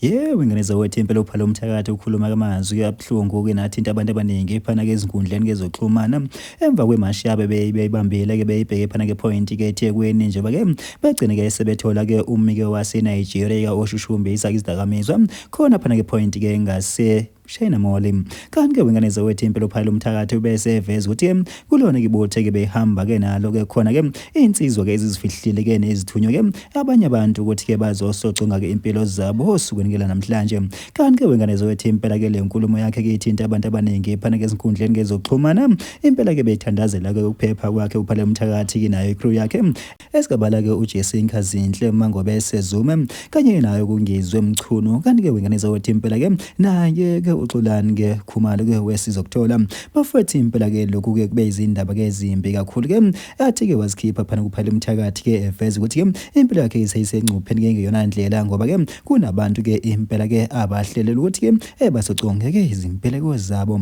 Yewe ngane zawethu impela uphalo umthakathi ukhuluma kamazwi abuhlungu ke nathinta abantu abaningi phana ke izinkundleni kezoxhumana emva kwemashi yabe beyibambile ke beyibheke phana ke point ke eThekwini njengoba ke begcine ke sebethola ke umike wase Nigeria oshushumbisa izidakamizwa khona phana ke point ke ngase Shayina Moli. Kanti-ke wengane zowethu impilo phayela umthakathi ubese eveza ukuthi kulona kibothe-ke behamba-ke nalo-ke khona-ke iy'nsizwa-ke ezizifihlile-ke nezithunywe-ke abanye abantu ukuthi-ke bazosoconga-ke impilo zabo osukwini-ke lanamhlanje. Kanti-ke wengane zowethu impela-ke le nkulumo yakhe-ke ithinta abantu abaningi phana-ke ezinkundleni ngezokuxhumana. Impela-ke bethandazela-ke ukuphepha kwakhe uphale umthakathi-ke nayo ikrew yakhe Esigabala-ke uJesse Nkazinhle Mangobese Zuma kanye naye uKungizwe Mchunu kanti-ke wengane zakwethu impela-ke naye-ke uXolani-ke Khumalo-ke wesizokuthola bafwethu impela-ke lokhu-ke kube izindaba-ke ezimbi kakhulu-ke athi-ke wazikhipha phana kuphela umthakathi-ke eveza ukuthi-ke impilo yakhe iseyisengcupheni-ke ngeyona ndlela ngoba-ke kunabantu-ke impela-ke abahlelele ukuthi-ke bazoconge-ke izimpeleko zabo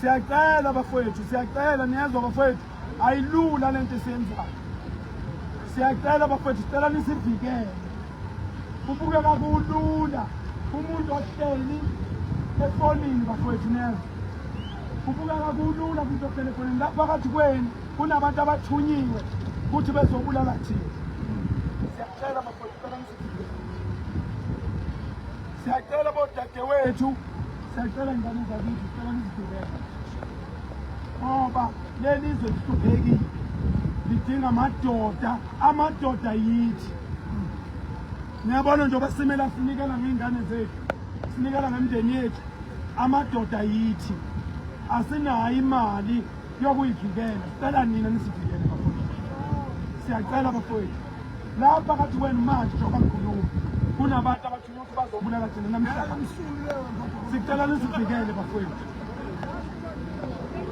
Siyacela bafowethu, siyacela niyezwa bafowethu, ayilula lento esiyenzayo. Siyacela bafowethu, sicela nisivikele. Kubukeka kulula umuntu ohleli efonini bafowethu niyezwa. Kubukeka kulula umuntu ohleli efonini. Lapha phakathi kwenu kunabantu abathunyiwe ukuthi bezobulala thina. Siyacela bafowethu, sicela nisivikele. Siyacela bodadewethu, siyacela ngane zakithi, sicela nizidubeke ngoba leli izwe lihluphekile, lidinga amadoda, amadoda yithi. Niyabona njengoba simele asinikela ngey'ngane zethu, sinikela ngemndeni yethu, amadoda yithi. Asinayo imali yokuyivikela, sicela nina nisivikele bafowethu, siyacela bafowethu. lapha phakathi kwenu manje njengoba ngikhuluma kunabantu abathunywa ukuthi bazobulala thina namhlanje sicela nizivikele bafowethu